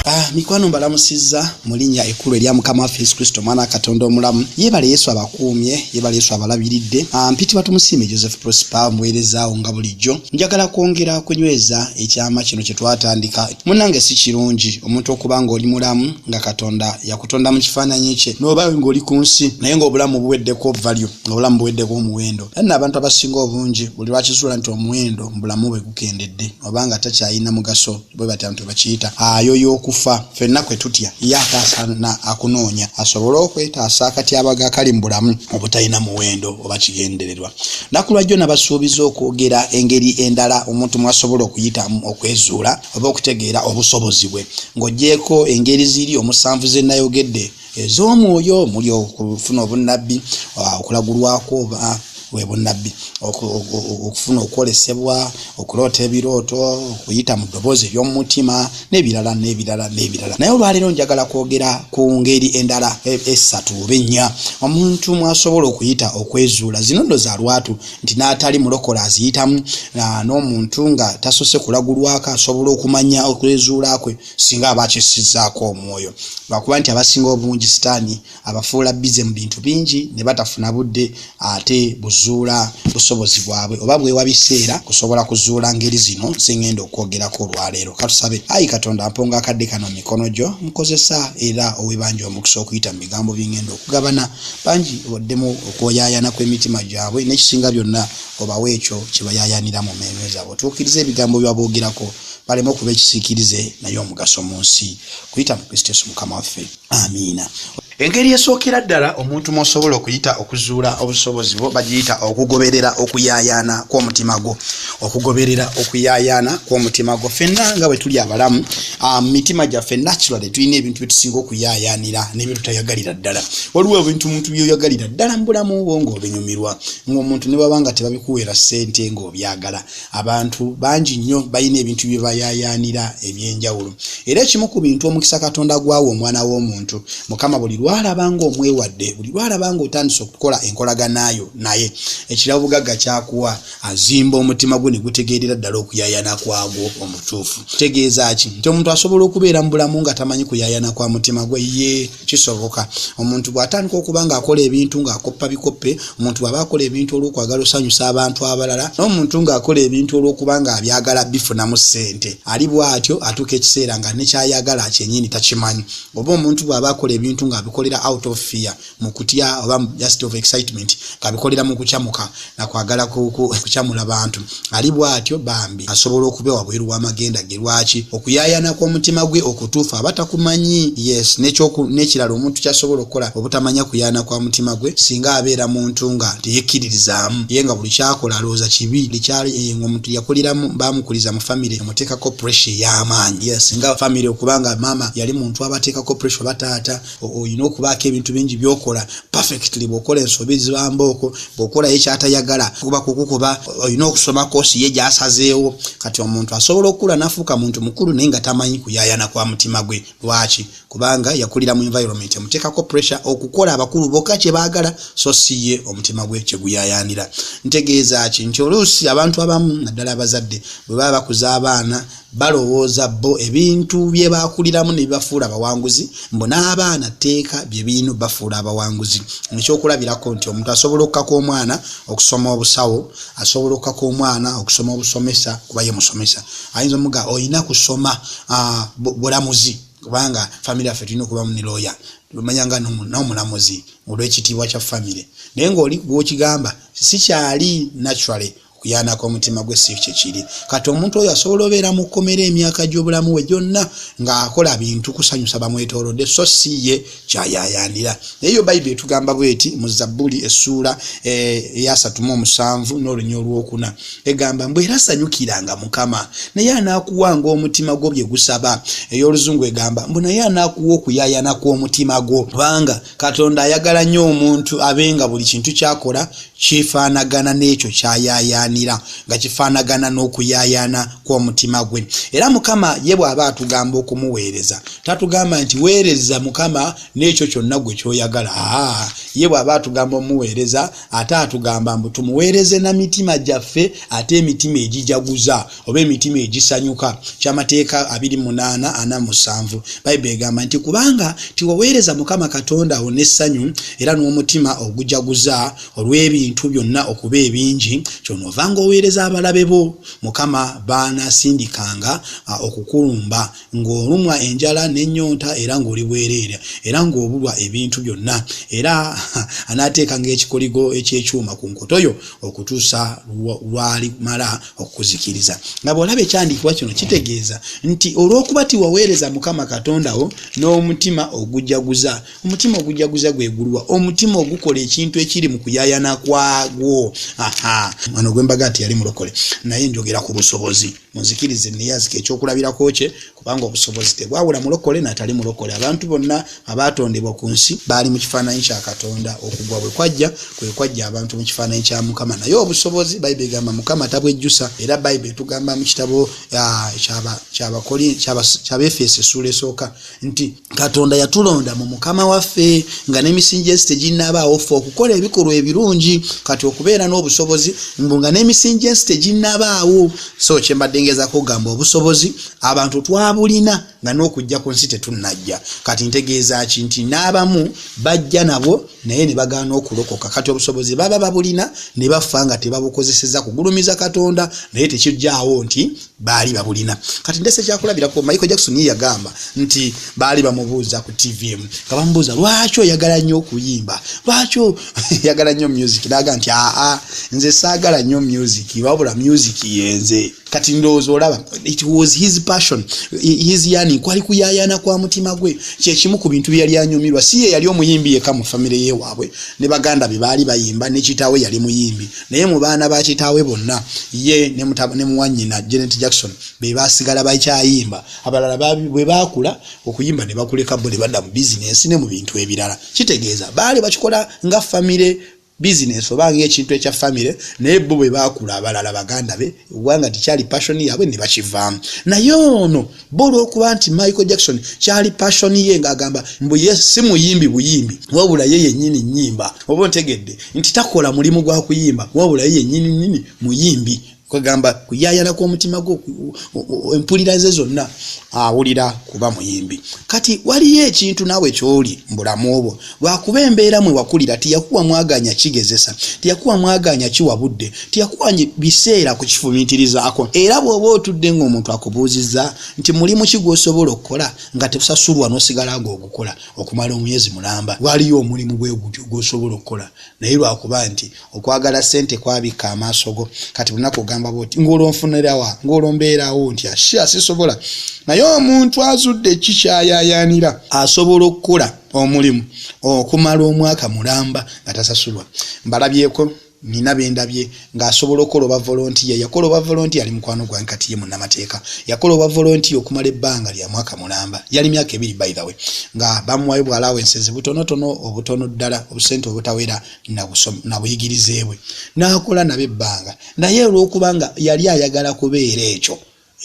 Ah, mikwano mbalamusizza mu linnya ekkulu erya mukama waffe yesu kristo omwana katonda omulamu yeebale yesu abakuumye yeebale yesu abalabiridde ah, mpitibwa tumusiime joseph prosper omuweerezaawo nga bulijjo njagala kwongera kunyweza ekyama kino kye twatandika munnange si kirungi omuntu okuba ng'oli mulamu nga katonda yakutonda mu kifaananyi kye n'oba ng'oli ku nsi naye ng'obulamu buweddeko valyo ng'obulamu buweddeko omuwendo Era nno abantu abasinga obungi buli lwakizuula nti omuwendo mu bulamu bwe gukendedde oba nga takyayina mugaso bwe batyo abantu bwe bakiyita ayoya okufa. Fenna kwe tutya ye ataasa na akunoonya asobole okwetaasa akatyabaga akali mu bulamu obutalina muwendo oba kigendererwa. Nakulwajjo nabasuubiza okwogera engeri endala omuntu mwasobola okuyitamu okwezuula oba okutegeera obusobozi bwe. Ng'ogyeko engeri ziri omusanvu ze nayogedde, ez'omwoyo omuli okufuna obunnabbi ah, okulagulwako oba webunnabbi okufuna okwolesebwa okuloota ebirooto okuyita mu ddoboozi ery'omumutima n'ebirala n'ebirala n'ebirala naye olwaleero njagala kwogera ku ngeri endala e, essatu oba ennya omuntu mwasobola okuyita okwezuula zino ndo za lwatu nti n'atali mulokola aziyitamu n'omuntu nga tasose kulagulwako asobola okumanya okwezuula kwe singa aba akyusizaako omwoyo lwakuba nti abasinga obungi sitaani abafuula bize mu bintu bingi ne batafuna budde ate buzuula busobozi bwabwe oba bwewa biseera kusobola kuzuula ngeri zino zengenda okwogerako olwaleero katusabe ayi katonda mponga akadde kano mu mikono gyo mukozesa era owebanja omukisa okuyita mu bigambo byengenda okugabana bangi oddemu okwoyayana kw'emitima gyabwe nekisinga byonna obawe ekyo kyebayayanira mu meeme zaabwe otuukiriza ebigambo byaboogerako baleme okuba ekisiikirize naye omugaso mu nsi kuyita mu kristo yesu mukama waffe amiina engeri esookera ddala omuntu mwosobola okuyita okuzuula obusobozi bwo bagiyita okugoberera okuyaayaana kw'omutima gwo okugoberera okuyaayaana kw'omutima gwo fenna nga bwe tuli abalamu ah, mu mitima gyaffe naturally tulina ebintu byetusinga okuyaayaanira nebyo tutayagalira ddala waliwo ebintu omuntu byoyagalira ddala mu bulamu bwo ng'obinyumirwa ng'omuntu ne baba nga tebabikuweera ssente ng'obyagala abantu bangi nnyo balina ebintu bye bayaayaanira eby'enjawulo era ekimu ku bintu omukisa katonda gwawa omwana w'omuntu mukama buli lwalaba ng'omwewadde buli lwalaba ng'otandise okukola enkolaganaayo naye ekirabo bugagga kyakuwa azimba omutima gwe ne gutegeerera ddala okuyaayana kwagwo omutuufu kitegeeza ki nti omuntu asobola okubeera mu bulamu nga tamanyi kuyaayana kwa mutima gwe ye kisoboka omuntu bw'atandika okuba ng'akola ebintu ng'akoppa bikoppe omuntu bw'aba akola ebintu olw'okwagala osanyusa abantu abalala n'omuntu ng'akola ebintu olw'okuba ng'abyagala bifunamu ssente ali bw'atyo atuuka ekiseera nga nekyayagala kyenyini takimanyi oba omuntu bw'aba akola ebintu ng'abikolera out of fear mu kutya oba just of excitement ng'abikolera mu kukyamuka nakwagala kukyamula bantu ali bwatyo bambi asobola okuba wabweru wamagenda ge lwaki okuyayana kw'omutima gwe okutuufu aba takumanyi yes n'ekirala omuntu kyasobola okukola obutamanya kuyana kwa mutima gwe singa abeera muntu nga teyekkiririzaamu ye nga buli kyakola alowooza kibi likyali eh, nga omuntu yakuliramu bamukuliza mu famire emuteekako pressure ey'amaanyi yes nga famire okubanga maama yali muntu abateekako pressure oba taata olina okubaako ebintu bingi byokola perfectly bwokola ensobi zibambaoko bwokolayo ekyatayagala kuba kukukuba olina okusoma kosi ye gyasazeewo kati omuntu asobola okukula nafuuka muntu mukulu naye nga tamanyi kuyayana kwa mutima gwe lwaki kubanga yakulira mu environment emuteekako pressure okukola abakulu boka kyebagala so si ye omutima gwe kyeguyayanira ntegeeza ki nti oluusi abantu abamu naddala abazadde bwe baba bakuza abaana balowooza bo ebintu bye baakuliramu ne bibafuula abawanguzi mbu n'abaana tteeka bye birina bafuula abawanguzi nekyokulabirako nti omuntu asobola okukaka omwana okusoma obusawo asobola okukaka omwana okusoma obusomesa kuba ye musomesa ayinza omuga olina kusoma ah, bulamuzi kubanga famiry yaffe tulina okubamu ne looya omanya nga nomulamuzi olwekitiibwa kya famire naye ngaoli gwokigamba sikyali naturally okuyaana kw'omutima gwe si kye kiri kati omuntu oyo asobola obeera mu kkomera emyaka gy'obulamu we gyonna ng'akola bintu kusanyusa bamwetoolodde so si ye kyayayaanira naye yo bayibuli etugamba bweti mu zabbuli essuula eh, eyasatuma omusanvu n'olunya olwokuna egamba mbu era sanyukiranga mukama naye anaakuwanga omutima gwo bye gusaba ey'oluzungu egamba mbu naye anaakuwa okuyayaana kw'omutima gwo kubanga katonda ayagala nnyo omuntu abe nga buli kintu kyakola kifaanagana n'ekyo kyayayaanira nga kifaanagana n'okuyayaana kw'omutima gwe era mukama ye bw'aba atugamba okumuweereza tatugamba nti weereza mukama n'ekyo kyonna gwe kyoyagala aa ye bw'aba atugamba omuweereza ate atugamba mbu tumuweereze na mitima gyaffe ate emitima egijaguza oba emitima egisanyuka kyamateeka 28:47 bayibuli egamba nti kubanga tiwaweereza mukama katonda wo n'essanyu era n'omutima ogujaguza olw'ebintu byonna okuba ebingi kyonoova ng'oweereza abalabe bo mukama baanasindikanga okukulumba ng'olumwa enjala n'ennyonta era ng'oli bwereera era ng'obulwa ebintu byonna era anaateekanga ekikoligo eky'ekyuma ku nkoto yo okutuusa lwalimala okuzikiriza nga bwolaba ekyandiikibwa kino kitegeeza nti olw'okuba tiwaweereza mukama katonda wo n'omutima ogujaguza omutima ogujaguza gwegulwa omutima ogukola ekintu ekiri mu kuyayana kwagwo aha ono gwembaga nti yali mulokole naye njogera ku busobozi muzikirize neyazika ekyokulabirako kye kubanga obusobozi tebwawula mulokole natali mulokole abantu bonna abaatondebwa ku nsi baali mu kifaananyi kya katonda okugwa bwe kwajja kwe kwajja abantu mu kifaananyi kya mukama naye obusobozi bayibuli egamba mukama tabwejjusa era bayibuli etugamba mu kitabo ah, kyabefeesi essuula esooka nti katonda yatulonda mu mukama waffe nga n'emisingi ensi teginnabaawo ffe okukola ebikolwa ebirungi kati okubeera n'obusobozi mbu nga n'emisingi ensi teginnabaawo so kyembadde ngezako okugamba obusobozi abantu twabulina nga n'okujja ku nsi tetunnajja kati ntegeeza ki nti n'abamu bajja nabwo naye ne bagaana okulokoka kati obusobozi baba babulina ne bafa nga tebabukozeseza kugulumiza katonda naye tekijjaawo nti baali babulina kati ndese ekyakulabirako michael jackson ye yagamba nti baali bamubuuza ku tvm nga bamubuuza lwaki oyagala nnyo okuyimba lwaki oyagala nnyo music naga nti aa nze saagala nnyo music wabula music yenze kati ndowooza olaba it was his passion his yani kwali kuyayana kwa mutima gwe kyekimu ku bintu byeyali anyumirwa si ye yali omuyimbi yeka mu famire yewaabwe ne baganda bye baali bayimba nekitaawe yali muyimbi naye mu baana ba kitaawe bonna ye ne muwanyina janet jackson be basigala bakyayimba abalala bwe baakula okuyimba ne bakuleka bo ne badda mu bizinensi ne mu bintu ebirala kitegeeza baali bakikola nga famire bizinensi oba ngaekintu ekya famire naye bo bwe baakula abalala baganda be eggwanga nti kyali passion yaabwe ne bakivaamu naye ono bo olw'okuba nti michael jackson kyali passion ye ng'agamba mbu ye si muyimbi buyimbi wabula ye yennyini nnyimba oba ontegedde nti takola mulimu gwa kuyimba wabula ye yennyini nnyini muyimbi kwegamba kuyayana kw'omutima gwo empulira ze zonna awulira kuba muyimbi kati waliyo ekintu naawe kyoli mu bulamu obwo lwakuba embeera mwe wakulira tiyakuwa mwaganya kigezesa tiyakuwa mwaganya kiwa budde tiyakuwa biseera ku kifumiitirizaako era bw'oba otudde ng'omuntu akubuuzizza nti mulimu ki gw'osobola okukola nga tebusasulwa n'osigala ng'ogukola okumala omwezi mulamba waliyo omulimu gwe gutyo gw'osobola okukola naye lwakuba nti okwagala ssente kwabikka amaaso go kati bunaku ogamba bwoti ng'olwonfunirawa ng'olwombeerawo nti asi asisobola naye omuntu azudde ki kyayayaanira asobola okukola omulimu okumala omwaka mulamba nga tasasulwa mbalabyeko nina bendabye ng'asobola okukola oba volontiya yakola oba volontiya ali mukwano gwange kati ye munnamateeka yakola oba volontiya okumala ebbanga lya mwaka mulamba yali myaka ebiri baithawe nga bamuwayo bwalaawo ensezi butonotono obutono ddala obusente obutawera nabuyigirize bwe n'akola nabo ebbanga naye olw'okuba nga yali ayagala kubeera ekyo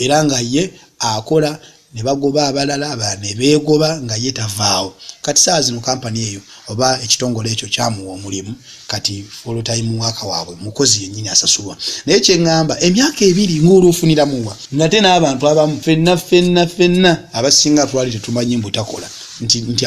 era nga ye akola ne bagoba abalala abalala ne beegoba nga ye tavaawo kati ssaawa zino kampani eyo oba ekitongole ekyo kyamuwa omulimu kati full time worker waabwe mukozi yennyini asasulwa naye kye ŋŋamba emyaka ebiri ng'olwo ofuniramu wa nate n'abantu abamu fenna fenna fenna abasinga twali tetumanyi mbu takola nti nti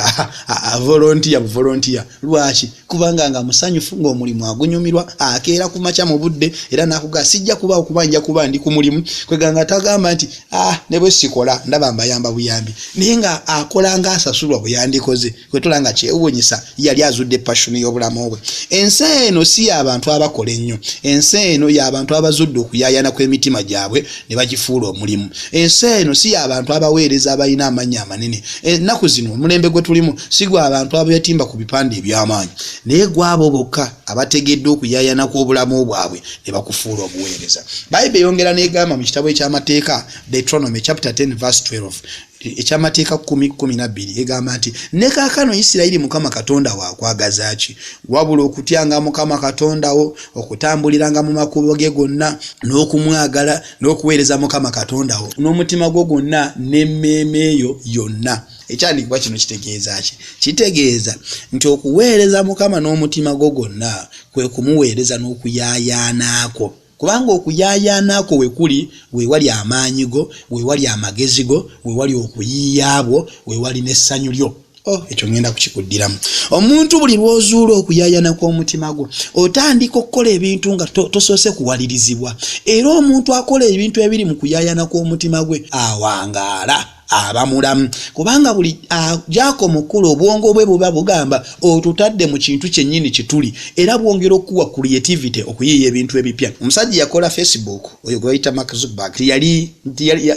avolontiya buvolontiya Lwaki? Kubanga nga musanyufu, ng'omulimu agunyumirwa, akeera ku makya mu budde, era n'akugamba, Sijja kubaawo kuba nja kuba ndi ku mulimu. Kwegamba nga tagamba nti, Ah, ne bwe sikola, ndaba mbayamba buyambi. Naye nga akola ng'asasulwa bwe yandikoze. Kwe tulaba nga kyewuunyisa, yali azudde passion y'obulamu bwe. Ensi eno si ya bantu abakola ennyo. Ensi eno ya bantu abazudde okuyaayana kw'emitima gyabwe. ne bagifuula omulimu ensi eno si yabantu abaweereza abalina amannya amanene ennaku zino omulembe gwe tulimu si gwa abantu abeetimba ku bipande eby'amaanyi naye gwabo bokka abategedde okuyayana kw'obulamu bwabwe ne bakufuula obuweereza bayibuli eyongera n'egamba mu kitabo eky'amateeka deuteronomy chapter 10 verse 12 ekyamateeka kumi kumi nabbiri egamba nti ne kaakano isirayiri mukama katonda wo akwagaza ki wabula okutyanga mukama katonda wo okutambuliranga mu makubo ge gonna n'okumwagala n'okuweereza mukama katonda wo n'omutima gwo gwonna n'emmeeme eyo yonna ekyandikibwa kino kitegeeza ki kitegeeza nti okuweereza mukama n'omutima gwo gwonna kwe kumuweereza n'okuyaayaanaako Kubanga okuyaayaana kwo we kuli, we wali amaanyi go, we wali amagezi go, we wali okuyiiya bwo, we wali n'essanyu lyo. Oh, ekyo ŋŋenda kukikuddiramu. Omuntu buli lw'ozuula okuyaayana kw'omutima gwo, otandika okukola ebintu nga tosoose kuwalirizibwa. Era omuntu akola ebintu ebiri mu kuyaayana kw'omutima gwe awangaala. aba mulamu kubanga buli agyako ah, mukulu obwongo bwe buba bugamba otutadde mu kintu kyennyini kituli era bwongera okuwa creativity okuyiiya ebintu ebipya omusajja yakola facebook oyo gwebayita mark zuckerberg tiyali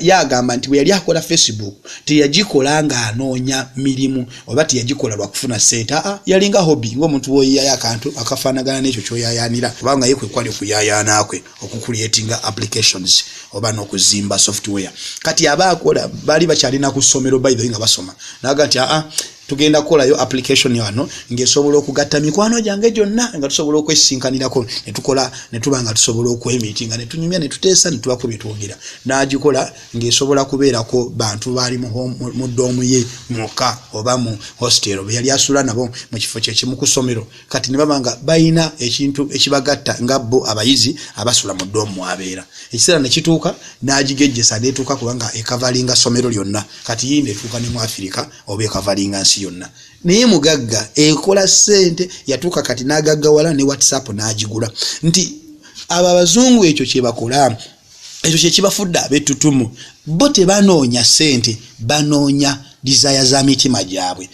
yagamba nti bwe yali akola facebook teyagikola ng'anoonya mirimu oba teyagikola lwakufuna sente aa ah, yalinga hobby ng'omuntu woyiyayo akantu akafaanagana n'ekyo kyoyayaanira kubanga ye kwe kwali okuyayaanaakwe okucreatinga applications oba nokuzimba software kati aba akola bali bakyalina ku somero by the way nga basoma naga nti aa tugenda kukolayo application yano ngaesobola okugatta mikwano gyange gyonna nga tusobola okwesinkanirako netukola netuba nga tusobola okwemiti nga netunyumya netuteesa netubako byetwogera nagikola ngaesobola kubeerako bantu baali mu doomu ye mwokka oba mu hostel beyali asula nabo mu kifo kyekimu ku somero kati nebaba nga balina ekintu ekibagatta nga bo abayizi abasula mu doomu mwabeera ekiseera nekituuka nagigejjesa netuuka kubanga ekavalinga somero lyonna kati yinda etuuka ne mu afirika oba ekavalinga nsi yonna naye mugagga ekola sente yatuuka kati nagaggawala ne whatsapp nagigula nti abo abazungu ekyo kyebakola ekyo kyekibafudde abetutumu bo tebanoonya sente banoonya dizaya za mitima gyabwe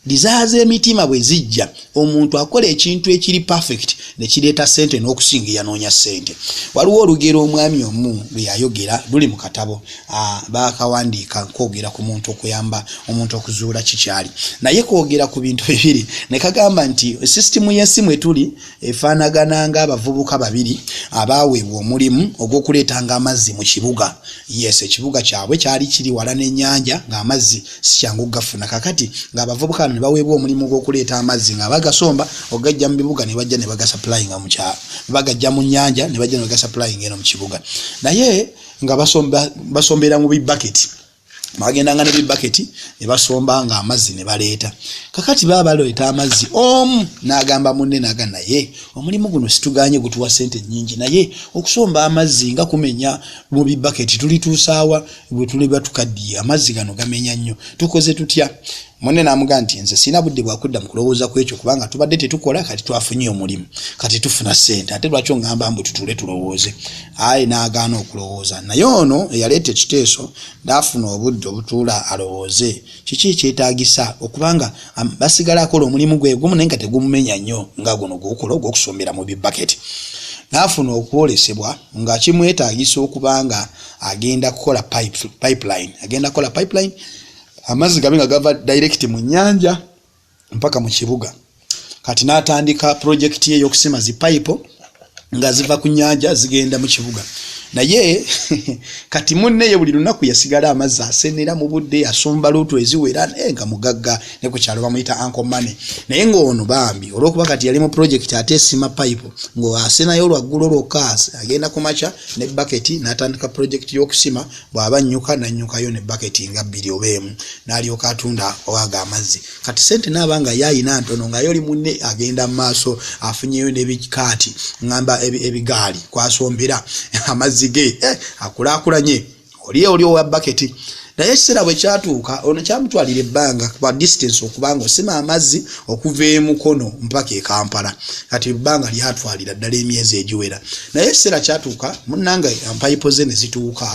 dizaya z'emitima bwe zijja omuntu akola ekintu ekiri perfect ne kireeta sente n'okusinga yanoonya sente waliwo olugero omwami omu lwe yayogera luli mu katabo bakawandiika nkwogera ku muntu okuyamba omuntu okuzuula kikyali naye kwogera ku bintu bibiri ne kagamba nti sisitimu y'ensi mwe tuli efaanagana ng'abavubuka babiri abaaweebwa omulimu ogw'okuleetanga amazzi mu kibuga yes ekibuga kyabwe kyali kiri wala n'ennyanja ng'amazzi sikyangu okugafuna kakati ng'abavubuka bano ne baweebwa omulimu ogw'okuleeta amazzi nga bagasomba okugajja mu bibuga ne bajja ne bagasapulayinga mu kyalo bagajja mu nnyanja ne bajja ne bagasapulayinga eno mu kibuga naye nga basombera mu bibaketi bagendanga ne bibaketi ne basombanga amazzi ne baleeta kakati baba baleeta amazzi omu n'agamba munne naga naye omulimu guno situganye gutuwa sente nyingi naye okusomba amazzi nga kumenya mu bibaketi tulituusaawa bwe tuliba tukaddiye amazzi gano gamenya nnyo tukoze tutya munne n'amuga nti nze sirina budde bwakudda mu kulowooza ku ekyo kubanga tubadde tetukola kati twafunye omulimu kati tufuna ssente ate lwaki ongamba mbu tutuule tulowooze aye n'agaana okulowooza naye ono eyaleeta ekiteeso ndaafuna obudde obutuula alowooze kiki ekyetaagisa okubanga basigala akola omulimu gwe gumu naye nga tegumumenya nnyo nga guno gwokukola ogw'okusombera mu bibaketi n'afuna okwolesebwa nga kimwetaagisa okubanga agenda kukola pipeline agenda kukola pipeline amazzi gabe nga gava direct mu nyanja mpaka mu kibuga kati natandika project ye yokusima zi pipe nga ziva ku nyanja zigenda mu kibuga naye kati munne ye buli lunaku yasigala amazzi asenera mu budde asomba luutu eziwera naye nga mugagga ne ku kyalo bamuyita anko mane naye ng'ono bambi olwokuba kati yali mu projekiti ate esima pipe ng'asenayo olwaggulo lwokka agenda ku makya ne baketi n'atandika projekiti y'okusima bw'aba annyuka n'annyukayo ne baketi nga bbiri oba emu n'alyoka atunda owaga amazzi kati sente naaba nga ye alina ntono nga yoli munne agenda mu maaso afunyeyo n'ebikaati ŋŋamba ebigaali kwasombera amazzi ge eh, akulaakulanye oli oli owa baketi naye ekiseera bwe kyatuuka ono kyamutwalira ebbanga kuba distance okubanga osima amazzi okuva e Mukono mpaka e Kampala kati ebbanga lyatwalira ddala emyezi egiwera naye ekiseera kyatuuka munnanga mpayipo ze ne zituuka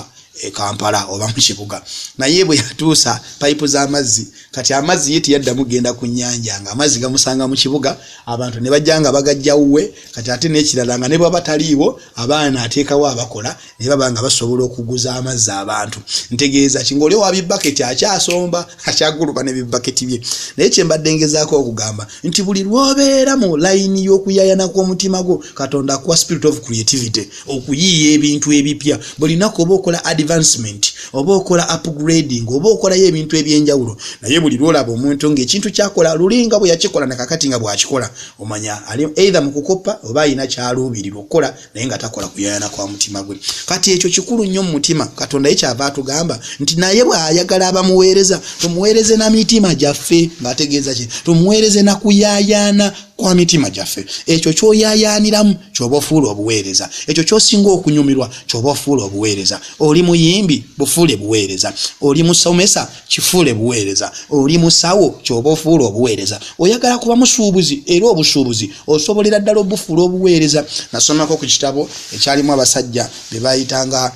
e Kampala oba mu kibuga naye bwe yatuusa payipu z'amazzi kati amazzi ye teyaddamu genda ku nnyanja nga amazzi gamusanga mu kibuga abantu ne bajja nga bagajja wuwe kati ate n'ekirala nga ne bwaba taliiwo abaana ateekawo abakola naye baba nga basobola okuguza amazzi abantu ntegeeza ki ngaoli owa bibaketi akyasomba akyaguluba ne bibaketi bye naye kyembadde ngezaako okugamba nti buli lwobeera mu layini y'okuyayana kw'omutima gwo katonda akuwa spirit of creativity okuyiiya ebintu ebipya buli naku oba okola advancement oba okola upgrading oba okolayo ebintu ebyenjawulo naye buli lwolaba omuntu ngaekintu kyakola lulinga bwe yakikola nakakati nga bwakikola omanya ali eitha mu kukoppa oba alina kyaluubirira okukola naye nga takola kuyayana kwa mutima gwe kati ekyo kikulu nnyo mu mutima katonda ye kyava atugamba nti naye bw'ayagala abamuweereza tumuweereze na mitima gyaffe ng'ategeeza kye tumuweereze na kuyaayaana kwa mitima gyaffe ekyo kyoyaayaaniramu kyoba ofuula obuweereza ekyo kyosinga okunyumirwa kyoba ofuula obuweereza oli muyimbi bufuule buweereza oli musomesa kifuule buweereza oli musawo kyoba ofuula obuweereza oyagala kuba musuubuzi era obusuubuzi osobolera ddala obufuula obuweereza nasomako ku kitabo ekyalimu abasajja be bayitanga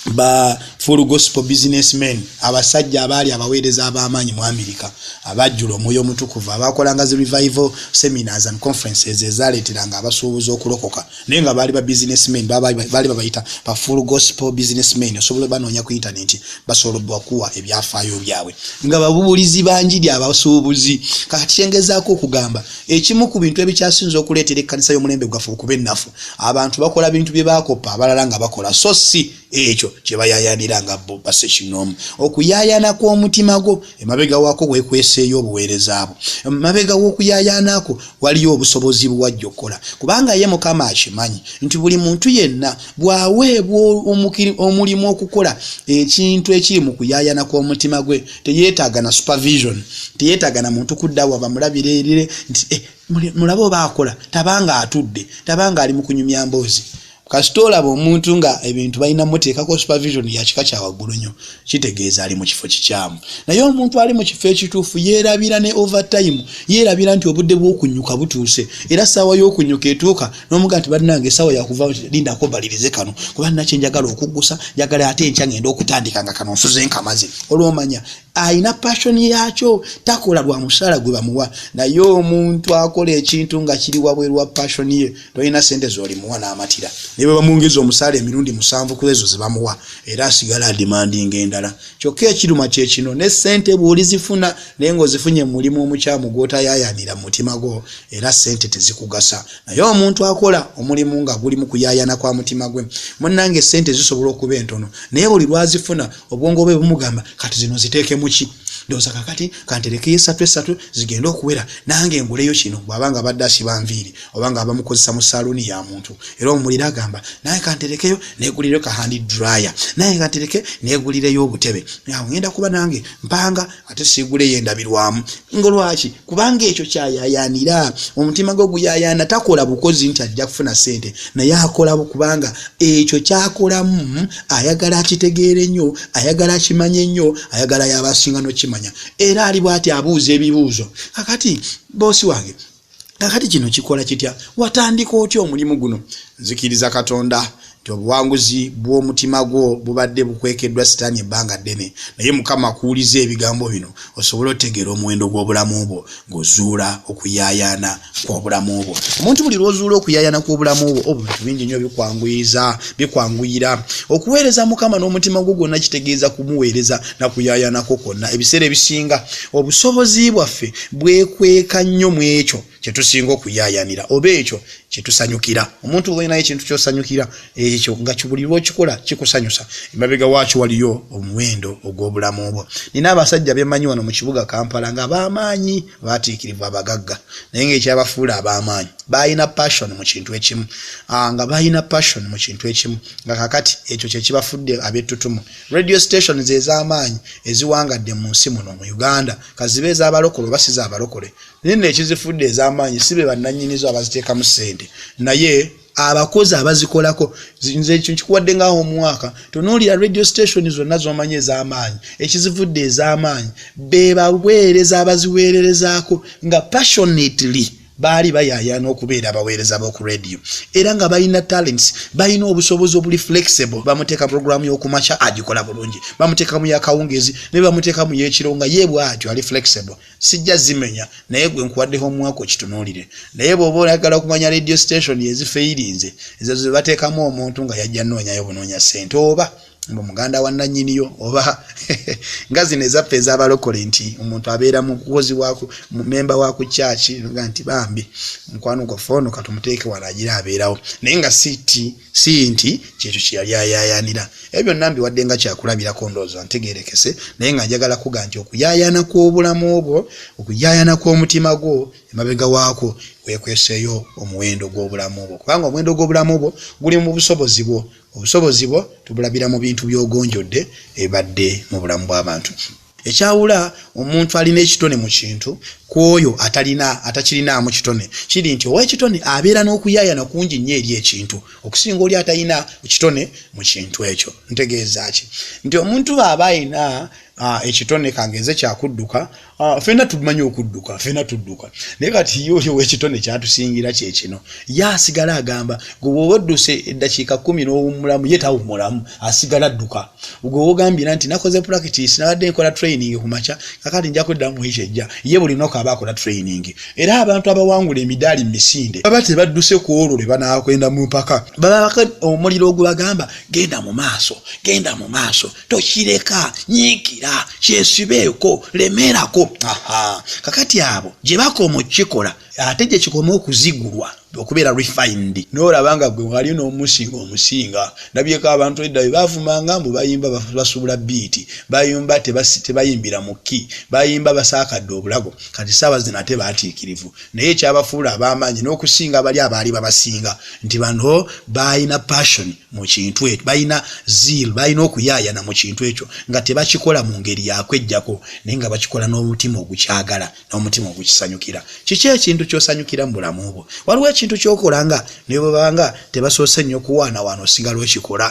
ba full gospel business men abasajja abaali abaweereza ab'amaanyi mu amerika abajjula omwoyo omutukuvu abakolanga zi revival seminars and conferences ezaaleeteranga abasuubuzi okulokoka naye nga baali ba businessmen baali babayita ba full gospel businessmen osobola banoonya ku intaneti basobola bakuwa ebyafaayo byabwe nga babubulizi banjiri abasuubuzi kakati kyengezaako okugamba ekimu ku bintu ebikyasinza okuleetera ekkanisa y'omulembe gwaffe okuba ennafu abantu bakola bintu bye baakoppa abalala nga bakola so si ekyo kyebayayanira nga bo base kinomu okuyayana kw'omutima gwo emabega wako wekweseeyo obuweereza bwo emabega w'okuyayanako waliyo obusobozi buwajja okukola kubanga ye mukama akimanyi nti buli muntu yenna bwaweebwa omulimu okukola ekintu ekiri mu kuyayana kw'omutima gwe teyetaaga na supervision teyetaaga na muntu kudda waba mulabire erire nti eh, mulabe oba akola tabanga atudde tabanga ali mu kunyumya mboozi kasita olaba omuntu nga ebintu balina muteekako supervision yakika kyawaggulu nnyo kitegeeza ali mu kifo kikyamu naye omuntu ali mu kifo ekituufu yeerabira ne overtime yeerabira nti obudde bw'okunyuka butuuse era ssaawa y'okunyuka etuuka n'omuga nti balinange essaawa yakuva lindako balirize kano kuba nina kyenjagala okuggusa njagala ate enkya ngenda okutandika nga kano nsuze nkamaze olwomanya alina passion yaakyo takola lwa musaala gwe bamuwa naye omuntu akola ekintu nga kiri wabweru wa passion ye tolina sente zolimuwa namatira naye bwebamwongeza omusaala emirundi musanvu kwezo zebamuwa era asigala adimandinga endala kyokka ekiruma kyekino ne sente bwolizifuna naye ngaozifunye mumulimu omukyamu gwotayayanira mumutima gwo era sente tezikugasa naye omuntu akola omulimu nga guli mukuyayana kwa mutima gwe munange sente zisobola okuba entono naye buli lwazifuna obwongo bwe bumugamba kati zino ziteekemu ki ndowooza kakati kanterekeyo esatu esatu zigende okuwera nange nguleyo kino bwabanga abadde asiba nviiri obanga abamukozesa mu saluuni ya muntu era omuliro agamba naye kanterekeyo negulireyo kahandi dryer naye kantereke negulireyo obutebe awo ngenda kuba nange mpanga ate sigule yendabirwamu nga lwaki kubanga ekyo kyayayanira omutima gwe guyayana takola bukozi nti ajja kufuna sente naye akola kubanga ekyo kyakolamu ayagala akitegeere nnyo ayagala akimanye nnyo ayagala yabasinga nokimanya era ali bwati abuuza ebibuuzo kakati boosi wange kakati kino kikola kitya watandika otya omulimu guno nzikiriza katonda nti obuwanguzi bw'omutima gwo bubadde bukwekeddwa sitaani ebbanga ddene naye mukama akuwuliza ebigambo bino osobole otegeera omuwendo gw'obulamu bwo ng'ozuula okuyaayaana kw'obulamu bwo omuntu buli lw'ozuula okuyaayaana kw'obulamu bwo obintu bingi nnyo bikwanguyiza bikwanguyira okuweereza mukama n'omutima gwo gwonna kitegeeza kumuweereza na kuyaayaanako kwonna ebiseera ebisinga obusobozi bwaffe bwekweka nnyo mu ekyo kye tusinga okuyaayanira oba ekyo kye tusanyukira omuntu oba olinayo ekintu kyosanyukira ekyo nga buli lwokikola kikusanyusa emabega waakyo waliyo omuwendo ogw'obulamu bwo nina abasajja bemanyi wano mu kibuga kampala nga abamaanyi batiikirivu abagagga naye ngaekyabafuula abamaanyi balina passion mu kintu ekimu ah, nga balina passion mu kintu ekimu nga kakati ekyo kyekibafudde abettutumu radio stations ez'amaanyi eziwangadde mu nsi muno mu uganda kazibe ezabalokole oba si zabalokole naye nno ekizifudde ez'amaanyi si be bannannyinizo abaziteekamu ssente naye abakozi abazikolako nze ekyo nkikuwadde ngaawo omwaka tonoolira radio station zonna z'omanyi ez'amaanyi ekizivudde ez'amaanyi be baweereza abaziweererezaako nga passionately baali bayaayaana okubeera abaweereza b'oku radio era nga balina talents balina obusobozi obuli flexible bamuteeka puroguramu y'okumakya agikola bulungi bamuteeka mu yakawungezi naye bamuteeka mu y'ekiro nga ye bwatyo ali flexible sijja zimenya naye gwe nkuwaddeho omwaka okitunuulire naye bw'oba oyagala okumanya radio station ezifeyirinze ezo ze bateekamu omuntu nga yajja noonyayo bunoonya ssente oba mbu muganda wa nannyini yo oba nga zino ezaffe ezabalokole nti omuntu abeera mukozi mumemba wa ku kyaki nga nti bambi mukwano gwaffe ono katumuteeke wano agira abeerawo naye nga siti si nti kyekyo kyeyali ayayanira ebyo byonna mbiwadde nga kyakulabirako ndooza ntegerekese naye nga njagala kuga nti okuyayana kw'obulamu obwo okuyayana kw'omutima gwo emabega waako wekweseeyo omuwendo gw'obulamu obwo kubanga omuwendo gw'obulamu obwo guli mu busobozi bwo Obusobozi bwo tubulabira mu bintu by'ogonjodde ebibadde mu bulamu bw'abantu. Ekyawula omuntu alina ekitone mu kintu ku oyo atalina atakirinaamu kitone kiri nti ow'ekitone abeera n'okuyaayana kungi nnyo eri ekintu okusinga oli atalina kitone mu kintu ekyo. Ntegeeza ki? Nti omuntu bw'aba alina ekitone kangeeze kya kudduka, Ah, fena tumanyi okudduka fena tudduka naye kati ye oli owekitone kyatusingira kyekino ye asigala agamba gwe woba odduse eddakiika kumi n'owummulamu ye tawummulamu asigala adduka gwe wogambiira nti nakoze practice nabadde nkola training ku makya kakati nja kweddamu mu wiki ejja ye buli noka aba akola training era abantu abawangula emidaali mu misinde baba tebadduse ku olwo lwe banaakwenda mu mpaka baba omuliro ogubagamba genda mu maaso genda mu maaso tokireka nyiikira kyesibeeko lemeerako aha kakati abo gye bakoma okukikola ate gye kikoma okuzigulwa okubeera refined noolaba nga gwe wali n'omusinga omusinga ndabyeko abantu edda bye bavumanga mbu bayimba basuubula biiti bayimba tebayimbira mu ki bayimba basaakadde obulago kati saawa zino ate baatiikirivu naye ekyabafuula ab'amaanyi n'okusinga bali abaali babasinga nti bano baalina passion mu kintu ekyo balina zeal balina okuyaayana mu kintu ekyo nga tebakikola mu ngeri yakwejjako naye nga bakikola n'omutima ogukyagala n'omutima ogukisanyukira kiki ekintu kyosanyukira mu bulamu bwo waliwo ekintu kyokola nga ne bwebaba nga tebasoose nnyo kuwaanawaana osigala okikola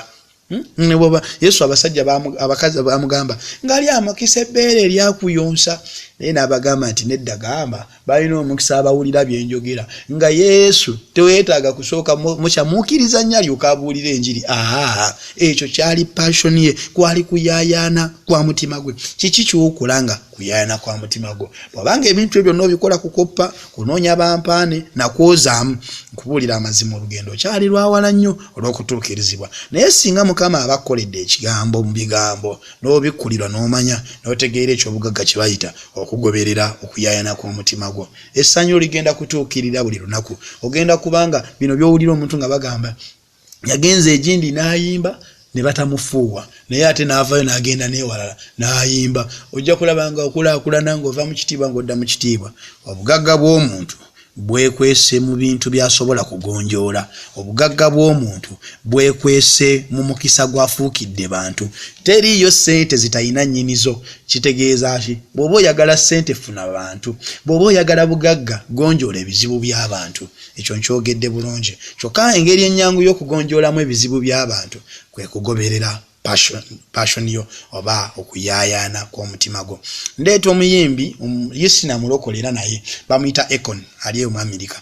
hmm? neboba yesu abasajja abakazi bamugamba ngaali amakisa ebbeere eryakuyonsa naye n'abagamba nti nedda gamba Balina omukisa abawulira bye njogera nga Yesu. Teweetaaga kusooka mukya mukkiriza nnyo alyoke abuulire enjiri. Aa, ekyo kyali passion ye, kwali kuyaayaana kwa mutima gwe. Kiki ky'okola nga kuyaayaana kwa mutima gwo? Bw'aba nga ebintu byo byonna obikola kukoppa, kunoonya bampaane, na kwozaamu, nkubuulira amazima olugendo okyali lwa wala nnyo olw'okutuukirizibwa. Naye singa Mukama aba akkoledde Ekigambo mu bigambo! n'obikkulirwa n'omanya n'otegeera eky'obugagga kye bayita okugoberera okuyaayana kw'omutima gwo essanyu ligenda kutuukirira buli lunaku ogenda kubanga bino by'owulira omuntu nga bagamba yagenze egindi n'ayimba ne batamufuuwa naye ate n'avaayo n'agenda n'ewalala n'ayimba ojja kulaba nga okulaakulana ng'ova mu kitiibwa ng'odda mu kitiibwa obugagga bw'omuntu bwekwese mu bintu by'asobola kugonjoola, obugagga bw'omuntu bwekwese mu mukisa gw'afuukidde bantu. Teriiyo ssente zitalina nnyini zo. Kitegeeza ki? Bw'oba oyagala ssente funa bantu, bw'oba oyagala bugagga gonjoola ebizibu by'abantu. Ekyo nkyogedde bulungi? Kyokka engeri ennyangu y'okugonjoolamu ebizibu by'abantu kwe kugoberera Passion, passion yo oba okuyayana kwomutima gwo ndeeta omuyimbi um, yesina mulokole era naye bamuyita econ ali eyo mu amerika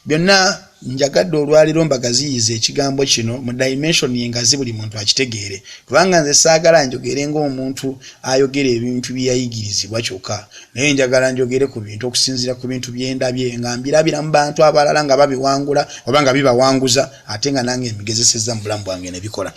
byonna njagadde olwaliro mbagaziyiza ekigambo kino mu dimension yengazi buli muntu akitegeere kubanga nze saagala njogere ngaomuntu ayogera ebintu byeyayigirizibwa kyokka naye njagala njogere ku bintu okusinziira ku bintu byendabye nga mbirabira mu bantu abalala nga babiwangula oba nga bibawanguza ate nga nange mbigezesezza mu bulamu bwange ne bikola.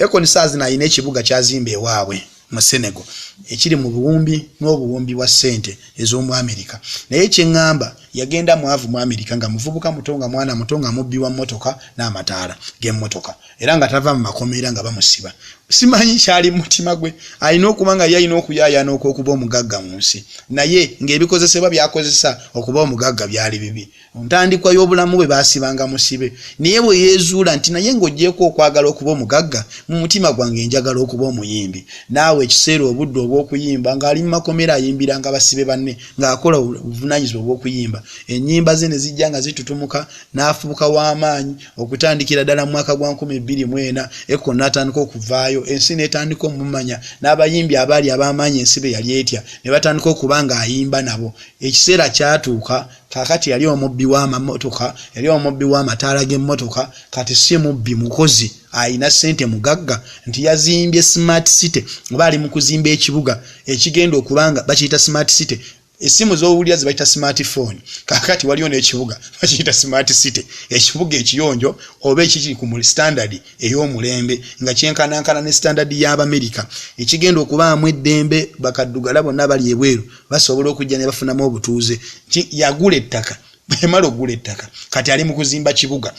Akon saazino alina ekibuga ky'azimba ewaabwe mu Senegal ekiri mu buwumbi n'obuwumbi bwa ssente ez'omu Amerika. Naye kye ŋŋamba yagenda mwavu mu Amerika nga muvubuka muto nga mwana muto nga mubbi wa mmotoka n'amataala g'emmotoka era nga tava mu makomera nga bamusiba. Simanyi kyali mu mutima gwe, alina okuba nga ye alina okuyaayaana okw'okuba omugagga mu nsi naye ng'ebikozesebwa by'akozesa okuba omugagga byali bibi. Mu ntandikwa y'obulamu bwe baasibanga musibe, naye bwe yeezuula nti naye ng'oggyeeko okwagala okuba omugagga, mu mutima gwange njagala okuba omuyimbi. N'awa ekiseera obudde obw'okuyimba. Ng'ali mu makomera ayimbiranga basibe banne ng'akola obuvunaanyizibwa obw'okuyimba. Ennyimba ze ne zijja nga zitutumuka. N'afubuka wa maanyi. Okutandikira ddala mu mwaka gwa nkumi bbiri mu ena, Eko n'atandika okuvaayo, ensi n'etandika omumanya. N'abayimbi abaali ab'amaanyi ensi be yali etya ne batandika okuba ng'ayimba nabo. Ekiseera kyatuuka. Kaakati yali omubbi w'amamotoka, yali omubbi w'amataala g'emmotoka, kati si mubbi, mukozi alina ssente, mugagga, nti yazimbye Smart City, oba ali mu kuzimba ekibuga ekigenda okuba nga bakiyita Smart City. Essimu z'owulira ze bayita Smart Phone, kaakati waliyo n'ekibuga bakiyita Smart City, ekibuga ekiyonjo oba ekikiri ku standard ey'omulembe nga kyenkanankana ne standard y'Abamerika, ekigenda okubaamu eddembe, bakaddugala bonna abali ebweru. basobola okujja ne bafunamu obutuuze nti yagula ettaka emala okugula ettaka kati ali mu kuzimba kibuga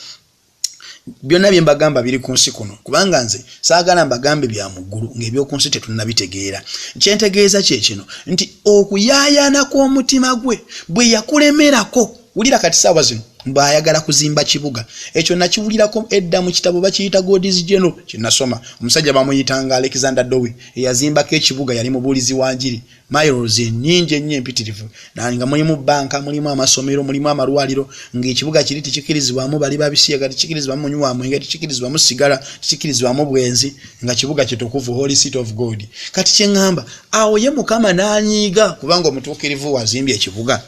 byonna bye mbagamba biri ku nsi kuno kubanga nze saagala mbagambe bya muggulu ng'eby'oku nsi tetunnabitegeera kyentegeeza kye kino nti okuyaayaana kw'omutima gwe bwe yakulemerako wulira kati saawa zino mbaayagala kuzimba kibuga ekyo nakiwulirako edda mu kitabo bakiyita godis general kyenasoma omusajja bamuyitanga alexander dowi eyazimbako ekibuga yali mubuulizi wa njiri miles enyingi ennyo empitirivu nga mulimu banka mulimu amasomero mulimu amalwaliro ngaekibuga kiri tikikirizibwamu bali babisiyaga tikikirizibwamu munywi wa mwenge tikikirizibwamu sigala tikikirizibwamu bwenzi nga kibuga kitukuvu holy city of god kati kyeŋŋamba awo ye mukama n'anyiiga kubanga omutuukirivu wazimbye ekibuga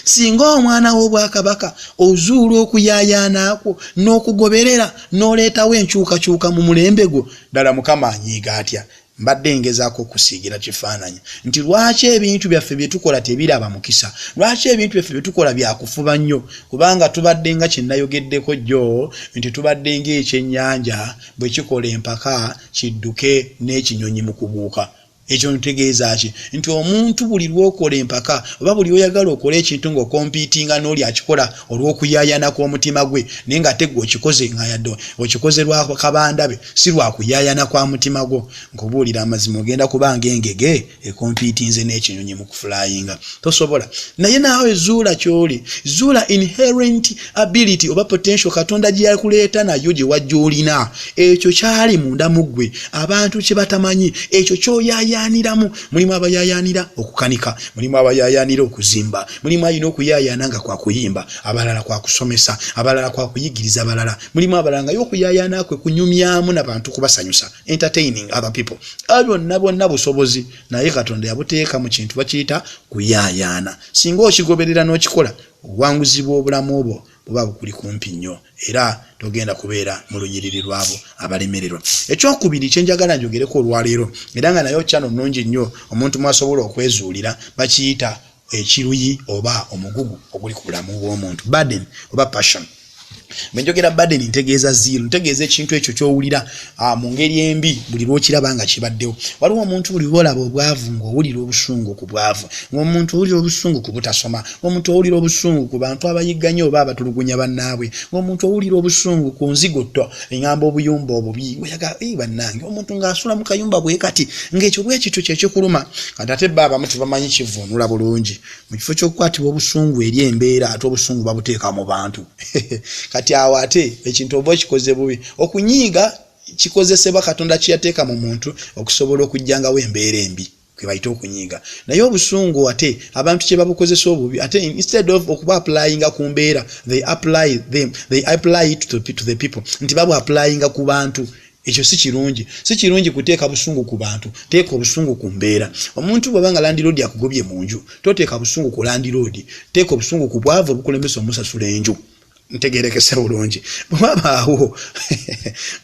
singa omwana w'obwakabaka ozuula okuyayaanaakwo n'okugoberera n'oleetawo enkyukakyuka mu mulembe gwo ddala mukama anyiiga atya Mbadde ngezaako okusiigira kifaananyi nti lwaki ebintu byaffe bye tukola tebiraba mukisa, lwaki ebintu byaffe bye tukola bya kufuba nnyo, kubanga tubadde nga kye nayogeddeko jjo nti tubadde ng'ekyennyanja bwe kikola empaka kidduke n'ekinyonyi mu kubuuka. Ekyo ntegeeza ki? Nti omuntu buli lw'okola empaka oba buli lw'oyagala okole ekintu ng'okompiitinga n'oli akikola, olw'okuyayana kw'omutima gwe naye nga ate gwe okikoze nga yadde okikoze lwa kabanda be si lwakuyayana kwa mutima gwo nkubuulira amazima ogenda kubanga engege ekompiitinze n'ekinyonyi mu kufulayinga tosobola naye naawe zuula kyoli zuula inherent ability oba potential katonda gye yakuleeta nayo gye wajja olina ekyo kyali munda mu ggwe abantu kye batamanyi ekyo kyoyayaaniramu mulimu abayayaanira okukanika mulimu abayayaanira okuzimba mulimu alina okuyayaana nga kwakuyimba abalala kwakusomesa abalala kwakuyigiriza abalala mulimu abalala ngayo okuyayaana kwe kunyumyamu nabantu kubasanyusa entertaining other people byonna bwonna busobozi naye katonda yabuteeka mu kintu bakiyita kuyayaana singa okigoberera n'okikola obuwanguzi bw'obulamu obwo buba bukuli kumpi nnyo era togenda kubeera mu lunyiriri lwabo abalemererwa ekyokubiri kyenjagala njogereko olwaleero era nga naye okyano nungi nnyo omuntu mwasobola okwezuulira bakiyita ekiruyi oba omugugu oguli ku bulamu bw'omuntu burden oba passion bwe njogera burden ntegeeza ziiru ntegeeza ekintu ekyo ky'owulira ah, mu ngeri embi buli lw'okiraba nga kibaddewo waliwo omuntu buli lw'olaba obwavu ng'owulira obusungu ku bwavu ng'omuntu owulira obusungu ku butasoma ng'omuntu owulira obusungu ku bantu abayigganya oba abatulugunya bannaabwe ng'omuntu owulira obusungu ku nzigotto eŋamba obuyumba obubi oyaga ee bannange omuntu ng'asula mu kayumba bwe kati ng'ekyo bwe kityo kye kikuluma kati ate bba abamu tebamanyi kivuunula bulungi mu kifo ky'okukwatibwa obusungu eri embeera ate obusungu babuteeka mu bantu kati awo ate ekintu oba okikoze bubi okunyiiga kikozesebwa katonda kye yateeka mu muntu okusobola okugyangawo embeera embi kwebayita okunyiiga naye obusungu ate abantu kyebabukozesa obubi ate instead of okuba applyinga ku mbeera they apply them they apply it to the, to the people nti babu applyinga ku bantu ekyo si kirungi si kirungi kuteeka busungu ku bantu teeka obusungu ku mbeera omuntu bwaba nga landiroodi akugobye mu nju toteeka busungu ku landiroodi teeka obusungu ku bwavu obukulembesa omusasula enju ntegerekese bulungi bwewabaawo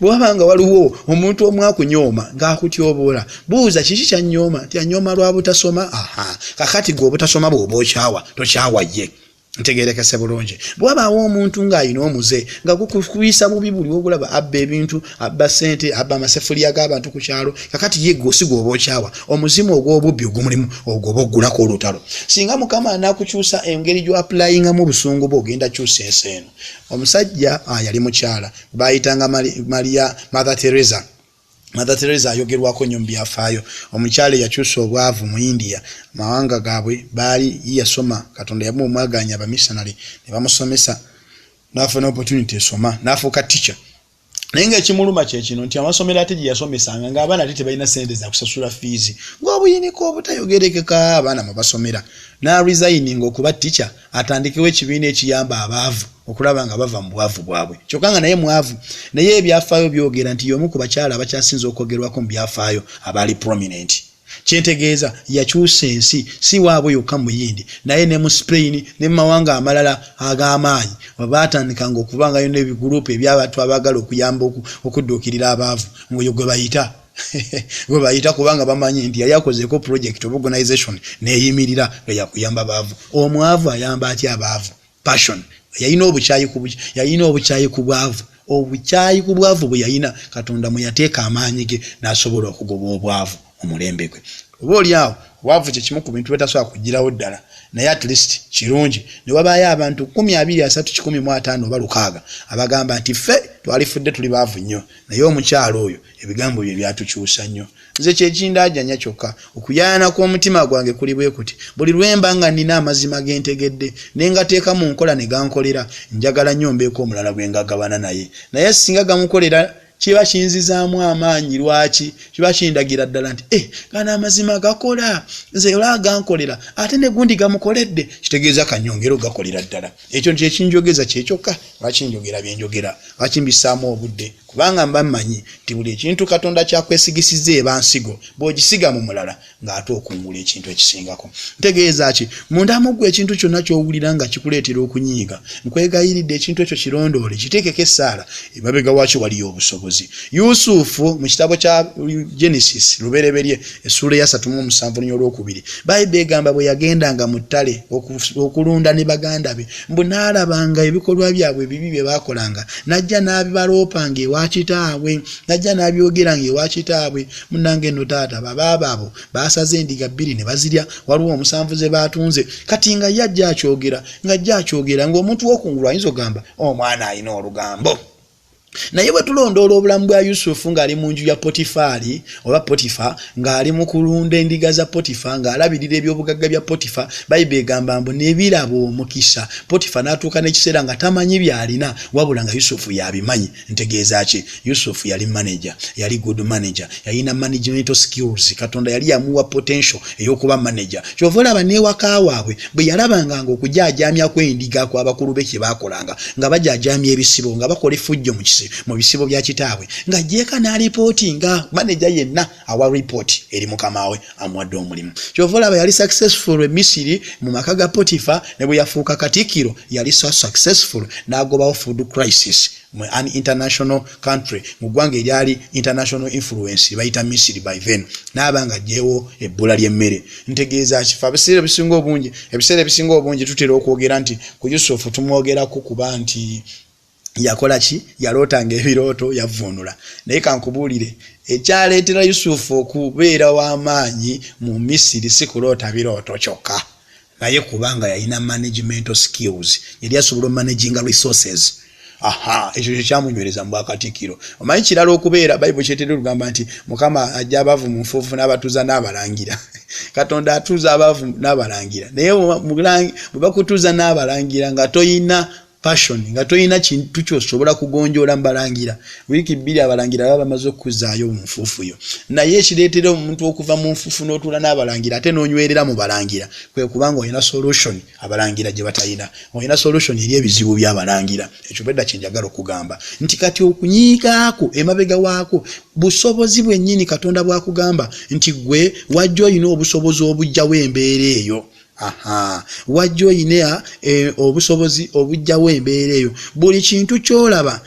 bwewaba nga waliwo omuntu omu akunyooma ngaakutyoboola buuza kiki kyanyooma nti anyooma lwa butasoma aha kakati gwe obutasoma bwoba okyawa tokyawa ye ntegerekese bulungi bwewabaawo omuntu ng'alina omuze nga gukuyisa bubi buli wogulaba abba ebintu abba sente abba amasefuliya g'abantu ku kyalo kakati ye gwosi gwoba okyawa omuzimu ogw'obubbi ogumulimu ogwo oba oggulako olutalo singa mukama anakukyusa engeri gyoapulayingamu obusungu bwe ogenda kyusa ensi eno omusajja ah, yali mukyala bayitanga maria mother teresa mother teresa ayogerwako nnyo mu byafaayo omukyala eyakyusa obwavu mu india mawanga gaabwe baali yeyasoma katonda yamu omwaganya abamissionary ne bamusomesa nafuna opportunity esoma nafuuka ticha naye nga ekimuluma kyekino nti amasomero ate gyeyasomesanga nga abaana ate tebalina sente zakusasula fiizi ngaobuyiniko obutayogerekeka abaana mwebasomera naresigning okuba ticha atandikewo ekibiina ekiyamba abaavu okulaba nga bava mu bwavu bwabwe kyokka nga naye mwavu naye ebyafaayo byogera nti yomu ku bakyala abakyasinze okwogerwako mu byafaayo abaali prominent kyentegeeza yakyusa ensi si waabwe yokka muyindi naye ne mu spain ne mumawanga amalala ag'amaanyi baatandikanga okubangayo n'ebiguruupu ebyabantu abaagala okuyamba okudduukirira abaavu ngaoyo gwe bayita gwe bayita kubanga bamanyi nti yali akozeeko project of organization neeyimirira nga yakuyamba baavu omwavu ayamba atya abaavu passion yalina obukyayi ku yalina obukyayi ku bwavu obukyayi ku bwavu bwe yalina katonda mwe yateeka amaanyi ge n'asobola okugoba obwavu mu mulembe gwe oba oli awo obwavu kye kimu ku bintu betasobola kugirawo ddala naye at least kirungi ne wabaayo abantu kumi abiri asatu kikumi mu ataano oba lukaaga abagamba nti ffe twalifudde tuli baavu nnyo naye omukyalo oyo Ebigambo bye byatukyusa nnyo. Nze kye kindaajanya kyokka. Okuyaayaana kw'omutima gwange kuli bwe kuti, Buli lwe mba nga nnina amazima ge ntegedde, ne ngateeka mu nkola ne gankolera, njagala nnyo mbeeko omulala gwe ngagabana naye. Naye ssinga gamukolera, kiba kinzizaamu amaanyi. Lwaki? Kiba kindagira ddala nti, Eh, gano amazima gakola! Nze era gankolera, ate ne gundi gamukoledde. Kitegeeza ka nnyongere okugakolera ddala. ekyo nti ekinjogeza kyekyokka lwaki njogera byenjogera lwaki mbisaamu obudde kubanga mba mmanyi nti buli ekintu katonda kyakwesigisiza eba nsigo bw'ogisiga mu mulala ng'ate okungula ekintu ekisingako ntegeeza ki mundamuggwa ekintu kyonna ky'owulira nga kikuleetera okunyiiga nkwegayiridde ekintu ekyo kirondoole kiteekeko essaala emabega wakyo waliyo obusobozi yusufu mu kitabo kya genesis lubereberye essuula eyasatu mu omusanvu lunya olwokubiri bayibe egamba bwe yagendanga mu ttale okulunda ne baganda be mbu n'alabanga ebikolwa byabwe ebibi bye baakolanga najja n'abibaloopanga ewa kitaabwe najja n'abyogeranga ewa kitaabwe munange no taata babaabo abo baasaze endiga bbiri ne bazirya waliwo omusanvu ze baatunze kati nga ye ajja akyogera nga ajja akyogera ng'omuntu w'okungulu ayinza okugamba omwana oh, alina olugambo naye bwe tulondoola obulamu bwa yusufu ng'ali mu nju ya potifaali oba potifa ng'ali mu kulunda endiga za potifa ng'alabirira ebyobugagga bya potifa bayibuli egamba mbu nebiraba omukisa potifa n'atuuka n'ekiseera nga tamanyi by'alina wabula nga yusufu y'abimanyi ntegeeza ki yusuf yali manager yali good manager yalina management skills katonda yali yamuwa potential eyokuba manager kyova olaba newaka waabwe bwe yalabanga nga okujajamya kwendiga ku abakulu be kyebakolanga nga bajajamya ebisibo nga bakola efujjo mu bisibo bya kitaabwe nga jeeka nalipooti nga manager yenna awa report eri mukama we amuwadde omulimu kyova olaba yali successful e misiri mu maka ga potifa ne bwe yafuuka katikiro yali so successful n'agobawo food crisis mu an international country mu ggwanga eryali international influence bayita misiri by then n'aba nga gyewo ebbula ly'emmere ntegeeza kifa ebiseera ebisinga obungi ebiseera ebisinga obungi tutera okwogera nti ku yusufu tumwogerako kuba nti yakola ki yaloota nga ebirooto yavvuunula naye kankubuulire ekyaleetera yusufu okubeera w'amaanyi mu misiri si kuloota birooto kyokka naye kubanga yalina managemental skills yali asobola omanaginga resources aha ekyo kyo kyamunywereza mu bwakatikkiro omanyi kirala okubeera bayibuli kyetera olugamba nti mukama ajja abaavu mu nfuufu n'abatuuza n'abalangira katonda atuuza abaavu n'abalangira naye bwe bakutuuza n'abalangira nga toyina passion nga tolina kintu kyosobola kugonjoola mubalangira wiiki bbiri abalangira baba bamaze okukuzaayo mu nfuufu yo naye ekireetera omuntu okuva mu nfuufu n'otuula n'abalangira ate n'onywerera mu balangira kwe kubanga olina solution abalangira gye batalina olina solution eri ebizibu by'abalangira ekyo bwedda kye njagala okugamba nti kati okunyiigaako emabega waako busobozi bwennyini katonda bwakugamba nti gwe wajja olina obusobozi obujjawo embeera eyo Aha. Wajja oyina eh, obusobozi obujjawo embeera eyo. Buli kintu kyolaba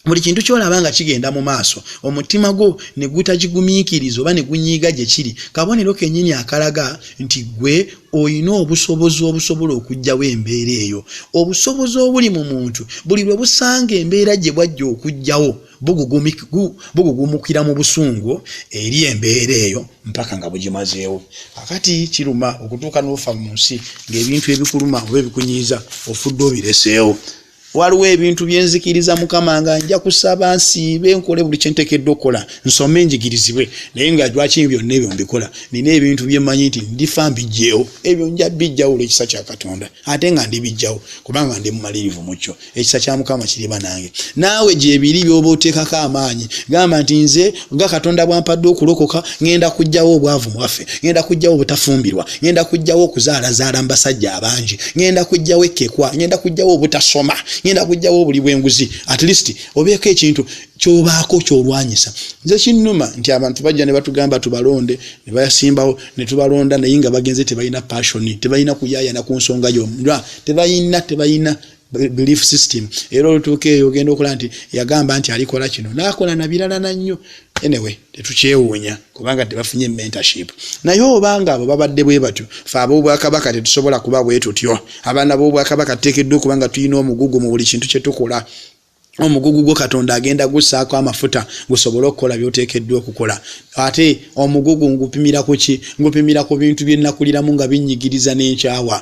buli kintu kyolaba nga kigenda mu maaso omutima gwo ne gutagigumiikiriza oba ne gunyiiga gye kiri kabonero kennyini akalaga nti gwe olina obusobozi obusobola okugyawo embeera eyo obusobozi obuli mu muntu buli lwe busanga embeera gye bwajja okugyawo bugugumukira mu busungu eri embeera eyo mpaka nga bugimazeewo akati kiruma okutuuka n'ofa mu nsi ng'ebintu ebikuluma oba ebikunyiiza ofudde obireseewo waliwo ebintu byenzikiriza mukama nga nja kusaba nsiibe nkole buli kyentekedde okukola nsome enjigirizibwe naye nga lwaki byonna ebyo mbikola nina ebintu byemanyi nti ndifa mbijjeewo ebyo nja bijjawo olwekisa kya katonda ate nga ndibijjawo kubanga ndi mumalirivu mukyo ekisa kya mukama kiri banange naawe gyebiri byoba oteekako amaanyi gamba nti nze nga katonda bwampadde okulokoka ŋenda kujjawo obwavu mwaffe ŋenda kujjawo obutafumbirwa ŋenda kujjawo okuzaalazaala mu basajja abangi ŋenda kujjawo ekkekwa ŋenda kujjawo obutasoma ŋenda kujjawo obuli bwenguzi at least obeeko ekintu kyobaako kyolwanyisa nze kinnuma nti abantu bajja ne batugamba tubalonde ne bayasimbawo ne tubalonda naye nga bagenze tebalina passioni tebalina kuyayana ku nsonga yonna tebalina tebalina belief system era olutuuka eyo ogenda okola nti yagamba nti alikola kino nakola nabirala nannyo anyway tetukyewuunya kubanga tebafunye mentorship naye obanga abo babadde bwe batyo fe ab'obwakabaka tetusobola kuba bwe tutyo abaana b'obwakabaka tuteekeddwa okuba nga tulina omugugu mu buli kintu kye tukola omugugu gwo katonda agenda gussaako amafuta gusobole okukola byoteekeddwa okukola ate omugugu ngupimira ku ki ngupimira ku bintu bye nnakuliramu nga binnyigiriza n'enkyawa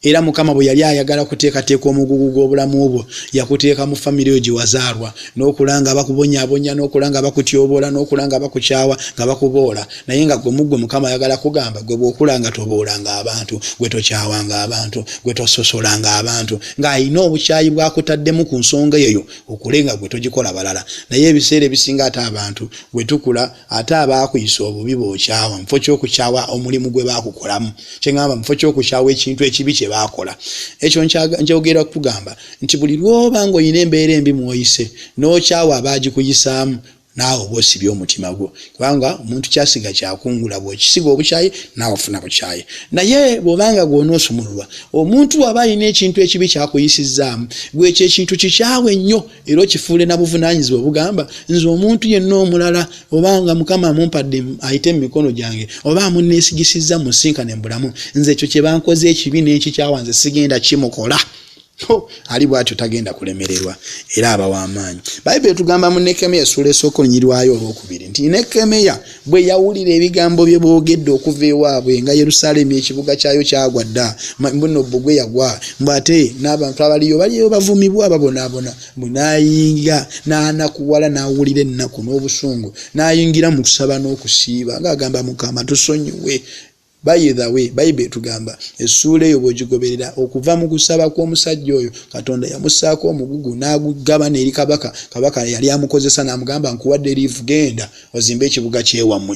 era mukama bwe yali ayagala kuteekateeka omugugu gw'obulamu bwo yakuteeka mu famire yo gye wazaalwa n'okula nga bakubonyaabonya n'okula nga bakutyoboola n'okula nga bakukyawa nga bakuboola naye nga gwe muggwe mukama ayagala kugamba gwe bwokulanga toboolanga abantu gwe tokyawanga abantu gwe tososolanga abantu ng'alina obukyayi bwakutaddemu ku nsonga eyo okule nga gwe togikola balala naye ebiseera ebisinga ate abantu bwe tukula ate abaakuyisa obubi bokyawa mufo kyokukyawa omulimu gwe baakukolamu kyengamba mufo kyokukyawa ekintu ekibi kye baakola ekyo njogera kugamba nti buli lwoba ng'olina embeera embi mwoyise n'okyawa abaagikuyisaamu Naawe oba osibye omutima gwo kubanga omuntu kyasiga kyakungula bwokisiga obukyayi naawe ofuna bukyayi naye bwobanga gwonoosumululwa omuntu waba alina ekintu ekibi kyakuyisizzaamu gwe ekyo ekintu kikyawe nnyo era okifuule na buvunaanyizibwa obugamba nze omuntu yenna omulala obanga mukama amumpadde ayite mu mikono gyange oba amunneesigisizza musinkane mu bulamu nze ekyo kye bankoze ekibi n'enkikyawa nze sigenda kimukola ali bwatyo tagenda kulemererwa era aba w'amaanyi bayibuli etugamba mu nekemeya esuula esooka olunyirwayo olwokubiri nti nekemeya bwe yawulira ebigambo bye boogedde okuva ewaabwe nga yerusaalemi ekibuga kyayo kyagwa dda buno bbugwe yagwa mbw ate n'abantu abaliyo baliyo bavumibwa babonaabona bwe nayinga n'anakuwala n'awulira ennaku n'obusungu n'ayingira mu kusaba n'okusiiba ng'agamba mukama tusonyiwe By the way, Bible etugamba essuula eyo bw'ogigoberera, okuva mu kusaba kw'omusajja oyo, Katonda yamussaako omugugu n'agugabana eri kabaka. Kabaka yali amukozesa n'amugamba, nkuwadde liivu, genda ozimbe ekibuga ky'ewammwe.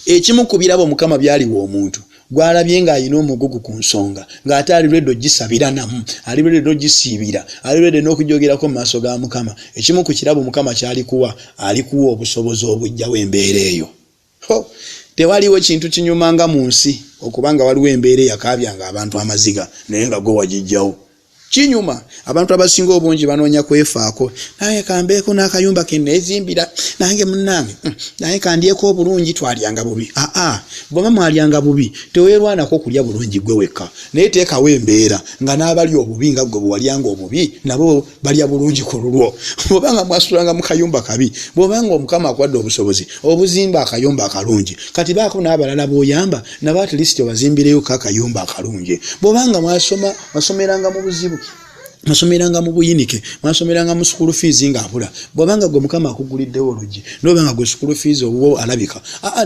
Ekimu ku birabo Mukama by'aliwa omuntu gwalabye ng'alina omugugu ku nsonga ng'ate ali lwedde ogisabira namu ali lwedde n'ogisiibira ali lwedde n'okugyogerako mu maaso ga mukama ekimu ku kirabo mukama kyalikuwa alikuwa obusobozi obujjawo embeera eyo Hoo tewaliwo kintu kinyuma nga munsi okuba nga waliwo embeera eyakaabya nga abantu amaziga naye nga gwe wagijjawo. Kinyuma abantu abasinga obungi banoonya kwefaako nange kambeeko n'akayumba keneezimbira nange munange hmm, naye kandyeko obulungi twalyanga bubi aa bwaba mwalyanga bubi tewerwanako kulya bulungi gwe wekka naye teekawo embeera nga n'abali obubi nga gwe bwewalyanga obubi nabo balya bulungi ku lulwo bwobanga mwasulanga mu kayumba kabi bwobanga omukama akwadde obusobozi obuzimba akayumba akalungi kati baako n'abalala b'oyamba nabo at least obazimbireyo ko akayumba akalungi bwobanga mwasoma mwasomeranga mu buzibu mwasomeranga mu buyinike mwasomeranga mu sukulu fiizi ng'abula bwobanga gwe mukama akuguliddewo olugi nobanga gwe sukulu fiizi obuwo alabika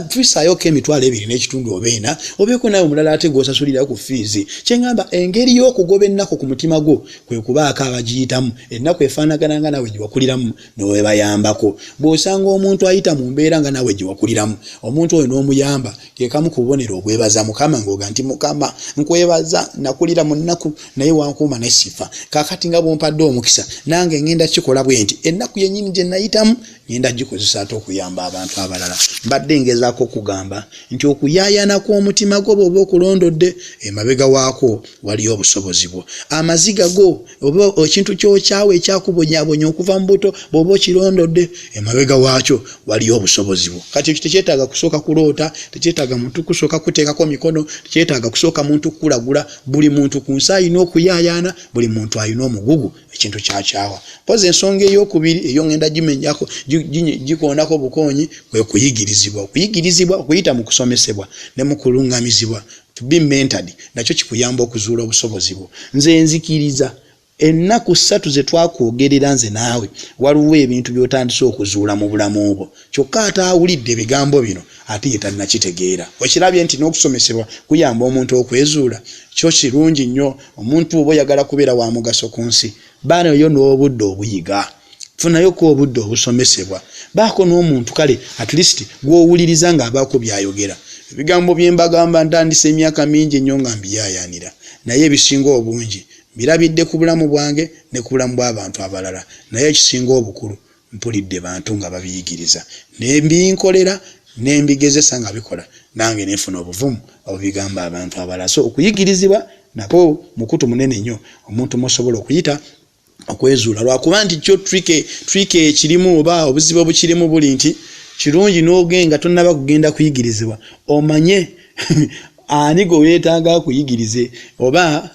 tuisayoko emitwalo ebiri n'ekitundu oba ena obeeko naye omulala ate gwosasulirayo ku fiizi kyengamba engeri y'okugoba ennaku ku mutima gwo kwe kubaako abagiyitamu ennaku efaanagana nga nawe gyewakuliramu newebayambako bw'osanga omuntu ayita mu mbeera nga nawe gyewakuliramu omuntu oyo n'omuyamba kekamu ku bubonero obwebaza mukama ng'oga nti mukama nkwebaza nakulira mu nnaku naye wankuuma nesifa kakati nga bwompadde omukisa nange ngenda kikola bwe nti ennaku yennyini gye nayitamu ngenda gikozesa ate okuyamba abantu abalala mbadde ngezaako okugamba nti okuyaayana kw'omutima gwo bwoba okulondodde emabega waako waliyo obusobozi bwo amaziga go oba ekintu kyokyawo ekyakubonyabonya okuva mu buto bwoba okirondodde emabega waakyo waliyo obusobozi bwo kati ekyo tekyetaaga kusooka kuloota tekyetaaga muntu kusooka kuteekako mikono tekyetaaga kusooka muntu kukulagula buli muntu ku nsi alina okuyaayana buli muntu alina omugugu ekintu kyakyawa pozi ensonga eyokubiri eyo ngenda gimenyako gikoonako bukoonyi kwe kuyigirizibwa okuyigirizibwa okuyita mu kusomesebwa ne mu kulungamizibwa to be mentored nakyo kikuyamba okuzuula obusobozi bwo nze nzikiriza ennaku ssatu ze twakwogerera nze naawe waliwo ebintu by'otandise okuzuula mu bulamu bwo Kyokka ate awulidde ebigambo bino ate ye tannakitegeera. Okirabye nti n'okusomesebwa kuyamba omuntu okwezuula? Kyo kirungi nnyo. Omuntu bw'oba oyagala kubeera wa mugaso ku nsi, ba nayo n'obudde obuyiga. Funayoko obudde obusomesebwa. Baako n'omuntu kale at least gw'owuliriza ng'abaako by'ayogera. Ebigambo bye mbagamba ntandise emyaka mingi nnyo nga mbiyaayaanira, naye ebisinga obungi mbirabidde ku bulamu bwange ne ku bulamu bw'abantu abalala. Naye ekisinga obukulu, Mpulidde bantu nga babiyigiriza ne mbinkolera ne mbigezesa nga bikola nange ne nfuna obuvumu obubigamba abantu abalala so okuyigirizibwa nakwo mukutu munene nnyo omuntu mwosobola okuyita okwezuula lwakuba nti kyo trick trick ekirimu oba obuzibu obukirimu buli nti kirungi n'ogenga tonnaba kugenda kuyigirizibwa omanye Ani gwe weetaaga akuyigirize oba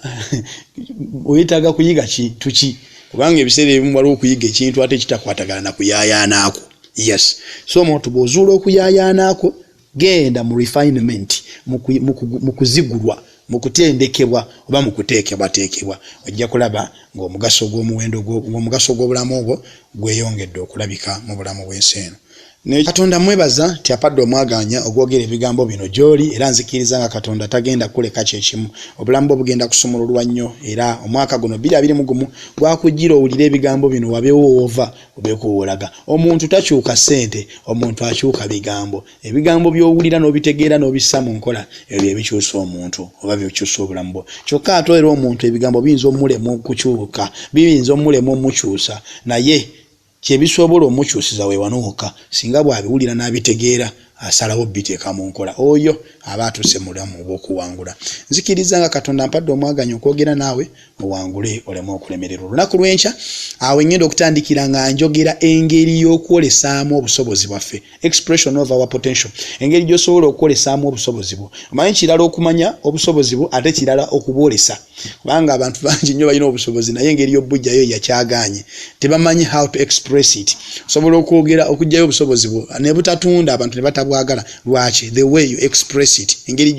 weetaaga kuyiga kintu ki? Kubanga ebiseera ebimu waliwo okuyiga ekintu ate kitakwatagana na kuyaayaana kwo. Yes. So omuntu bw'ozuula okuyaayaana kwo, genda mu refinement, mu kuzigulwa, mu kutendekebwa oba mu kuteekebwateekebwa. Ojja kulaba ng'omugaso gw'omuwendo gwo, ng'omugaso gw'obulamu bwo gweyongedde okulabika mu bulamu bw'ensi eno. Naye Katonda mmwebaza nti apadde omwagaanya ogwogera ebigambo bino gy'oli era nzikiriza nga Katonda tagenda kukuleka kye kimu. Obulamu bwo bugenda kusumululwa nnyo era omwaka guno bbiri abiri mu gumu gwakujjira owulire ebigambo bino wabeewo w'ova obeeko w'olaga. Omuntu takyuka ssente, omuntu akyuka bigambo. Ebigambo by'owulira n'obitegeera n'obissa mu nkola ebyo bye bikyusa omuntu oba bye bikyusa obulamu bwo. Kyokka ate era omuntu ebigambo biyinza omulema okukyuka, biyinza omulema omukyusa naye. Kye bisobola omukyusiza we wano wokka singa bw'abiwulira n'abitegeera asalawo obbiteeka mu nkola. Oyo aba atuuse mu bulamu obw'okuwangula. Nzikirizza nga Katonda ampadde omwaganya okwogera naawe owangule oleme okulemererwa olunaku lw'enkya. Awo we ŋŋenda okutandikira nga njogera engeri y'okwolesaamu obusobozi bwaffe expression of our potential engeri gyosobola okwolesaamu obusobozi bwo omanyi kirala okumanya obusobozi bwo ate kirala okubwolesa kubanga abantu bangi nnyo balina obusobozi naye engeri yobujjayo yakyaganye tebamanyi how to express it osobola okwogera okugjayo obusobozi bwo nebutatunda abantu nebatabwagala lwaki the way you express it engeri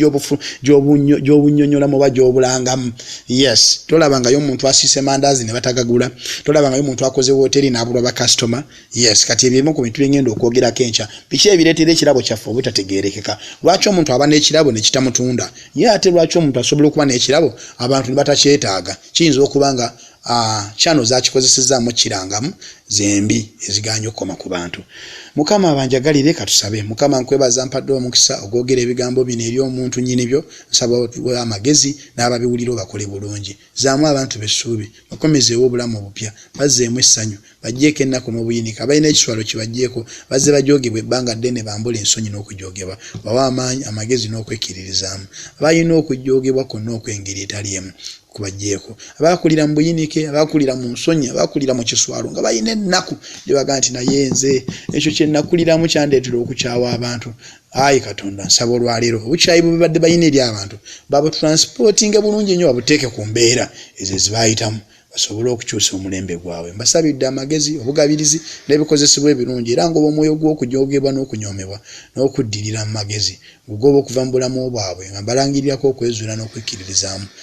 gyobunyonyolamu oba gyobulangamu yes tolabangayo omuntu asiise mandazi nebatagagula tolabangayo omuntu akoze woteri nabulwa bakasitoma yes kati ebyo ebimu ku bintu byengenda okwogerako enkya biki ebireetera ekirabo kyaffe obutategeerekeka lwaki omuntu aba n'ekirabo ne kitamutunda ye ate lwaki omuntu asobola okuba n'ekirabo abantu ne batakyetaaga kiyinza okuba nga kyano ah, zakikozesezaamu kirangamu zembi eziganye okukoma ku bantu mukama abanjagalire katusabe mukama nkwebaza mpadde omukisa ogwogera ebigambo bino eri omuntu nyini byo nsaba amagezi n'ababiwulira obakole bulungi Zzaamu abantu bo essuubi. Bakomezeewo obulamu obupya. Bazzeemu essanyu. Baggyeeko ennaku n'obuyinike. Abalina ekiswalo kibaggyeeko. Bazze bajoogebwa ebbanga ddene bambule ensonyi n'okujoogebwa. Bawe amaanyi, amagezi n'okwekkiririzaamu. Abalina okujoogebwa kwonna okw'engeri etali emu kubaggyeeko. Abaakulira mu buyinike, abaakulira mu nsonyi, abaakulira mu kiswalo nga balina ennaku gye bagamba nti, Naye nze! Ekyo kye nnakuliramu kyandeetera okukyawa abantu. ayi katonda nsaba olwaleero obukyayi bwebabadde balina eri abantu babutransportinge bulungi nnyo babuteeke ku mbeera ezo ezibayitamu basobole okukyusa omulembe gwabwe mbasabidde amagezi obugabirizi n'ebikozesebwa ebirungi era ngoba omwoyo gw'okujoogebwa n'okunyoomebwa n'okuddirira mu magezi ngugoba okuva mu bulamu bwabwe nga mbalangirirako okwezuula n'okwekkiririzaamu